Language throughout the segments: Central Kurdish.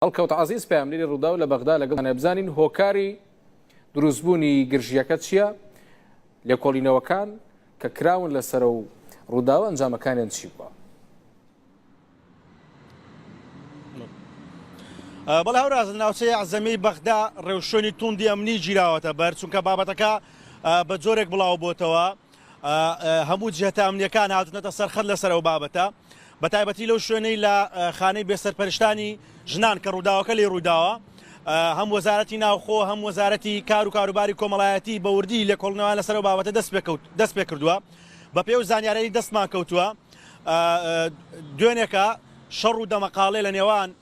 هەڵکەوت عەزیز پەیامنێری ڕووداو لە بەغدا لەگەڵ نەبزانین هۆکاری دروستبوونی گرژیەکە چییە لێکۆڵینەوەکان کە کراون لەسەر و ڕووداوە ئەنجامەکانیان چی بووە بەڵ هاوراز ناوچەی عزەمی بەغدا ڕێوشۆنی توندی ئەمنی گیراوەتە بەر چونکە بابەتەکە بە جۆرێک بڵاو بۆتەوە هەموو جهتە ئەمنیەکان هاتونەتە سەر خەت لەسەر ئەو بابەتە بە تایبەتی لەو شوێنەی لە خانەی بێسەرپەرشتانی ژنان کە ڕووداوەکە لێ ڕووداوە هەم وەزارەتی ناوخۆ هەم وەزارەتی کار و کاروباری کۆمەڵایەتی بەوردی لە کۆڵنەوە لەسەر و بابەتە دەست پێکەوت دەست پێ کردووە بە پێ و زانیارەی دەستمان کەوتووە دوێنێکە شەڕ و دەمەقاڵێ لە نێوان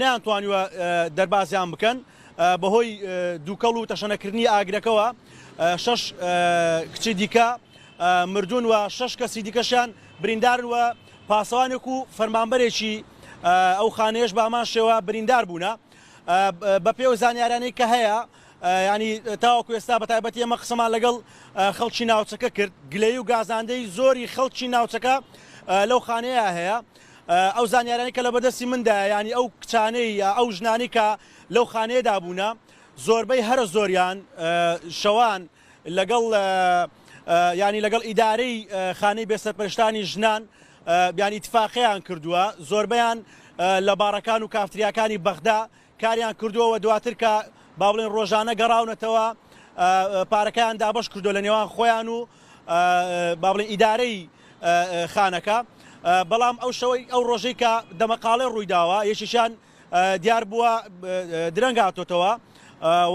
نەیانتوانیوە دەربازیان بکەن، بەهۆی دووکەڵ و تەشەنەکردنی ئاگرەکەوە شەش کچی دیکە مردوون و شەش کەسی دیکەشیان بریندارن و پاسەوانێک و فەرمانبەرێکی ئەو خانەیەش بە هەمان شێوە بریندار بوونە بە پێی و زانیارانەی کە هەیە ینی تاوەکو ئێستا بە تایبەتی ئەمە قسەمان لەگەڵ خەڵکی ناوچەکە کرد گلەی و گازاندەی زۆری خەڵکی ناوچەکە لەو خانەیە هەیە ئەو زانیاریانەی کە لەبەردەستی مندایە یانی ئەو کچانەی یا ئەو ژنانەی کە لەو خانەیەدا بوونە زۆربەی هەرە زۆریان شەوان لەگەڵ یانی لەگەڵ ئیدارەی خانەی بێسەرپەرشتانی ژنان بیانی تفاقیان کردووە زۆربیان لە باڕەکان و کافتریاکانی بەغدا کاریان کردووە و دواتر کە با بڵێن ڕۆژانە گەڕاونەتەوە پارەکەیان دابەش کردووە لە نێوان خۆیان و با بڵێن ئیدارەی خانەکە بەڵام ئەو شەوەی ئەو ڕۆژەی کە دەمەقاڵێ ڕوویداوە یەکێکیان دیار بووە درەنگ هاتۆتەوە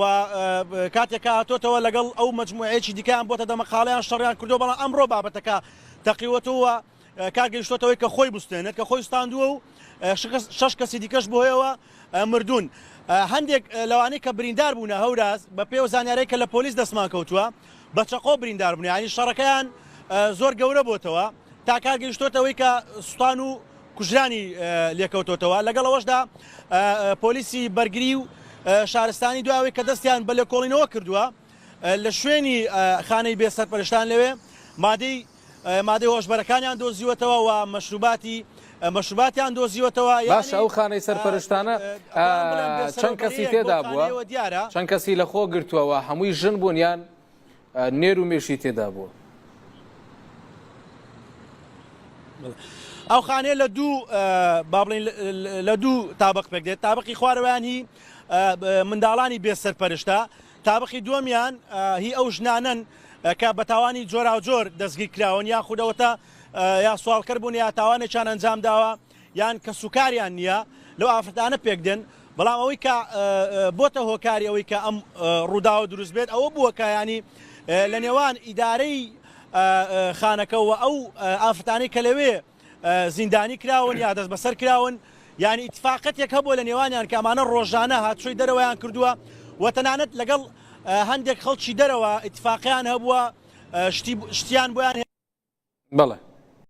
و کاتێکە هاتۆتەوە لەگەڵ ئەو مجموعەیەکی دیکەیان بۆتە دەمەقاڵیان شەڕیان کردو بەڵام ئەمڕۆ بابەتەکە تەقیوەتەوە کار گەیشتۆتەوەی کە خۆی بوستێنێت کە خۆی ستاندووە و شەش کەسی دیکەش بۆیەوە مردوون هەندێک لەوانەی کە بریندار بوونە هەوراز بە پێ و زانیارەی کە لە پۆلیس دەستمان کەوتووە بە چەقۆ بریندار بنیانی شەڕەکەیان زۆر گەورە بۆتەوە تا کار گەیشتۆتەوەی کە سوپان و کوژرانی لێکەوتۆتەوە لەگەڵ ئەوەشدا پۆلیسی بەرگری و شارستانی دواوەی کە دەستیان بە لێکۆڵینەوە کردووە لە شوێنی خانەی بێ سەرپەرشتان لەوێ مادەی مادەی هۆشبەرەکانیان دۆزیوەتەوە و مەشروباتی مەشروباتیان دۆزیوەتەوە. باشە ئەو خانەی سەرپەرشتانە چەند کەسی تێدا بووە؟ چەند کەسی لە خۆ گرتووە و هەمووی ژن بوون یان نێر و مێشی تێدا بووە؟ ئەو خانەیە لە دوو با بڵین لە دوو تابق پێک دێت تابقی خوارەوەیان هی منداڵانی بێ سەرپەرشتە تابقی دووەمیان هی ئەو ژنانەن کە بە تاوانی جۆراوجۆر دەستگیرکراون یا خودەوەتە یا سوالکەر بوون یا تاوانێکیان ئەنجام داوە یان کە سوکاریان نییە لەو ئافرەتانە پێکدێن بەڵام ئەوەی کە بۆتە هۆکاری ئەوەی کە ئەم ڕووداوە دروست بێت ئەوە بووە کە ینی لە نێوان ئیدارەی خانەکەەوە ئەو ئافرەتانی کە لەوێ زیندانی کراون یا دەستبەسەر کراون یانی ئیتفاقەتێک هەبوو لە نێوانیان کە ئەمانە ڕۆژانە هاتوچۆی دەرەوەیان کردووە و تەنانەت لەگەڵ هەندێک خەڵکی دەرەوە ئیتفاقیان هەبووە شتیان بۆیان بڵێ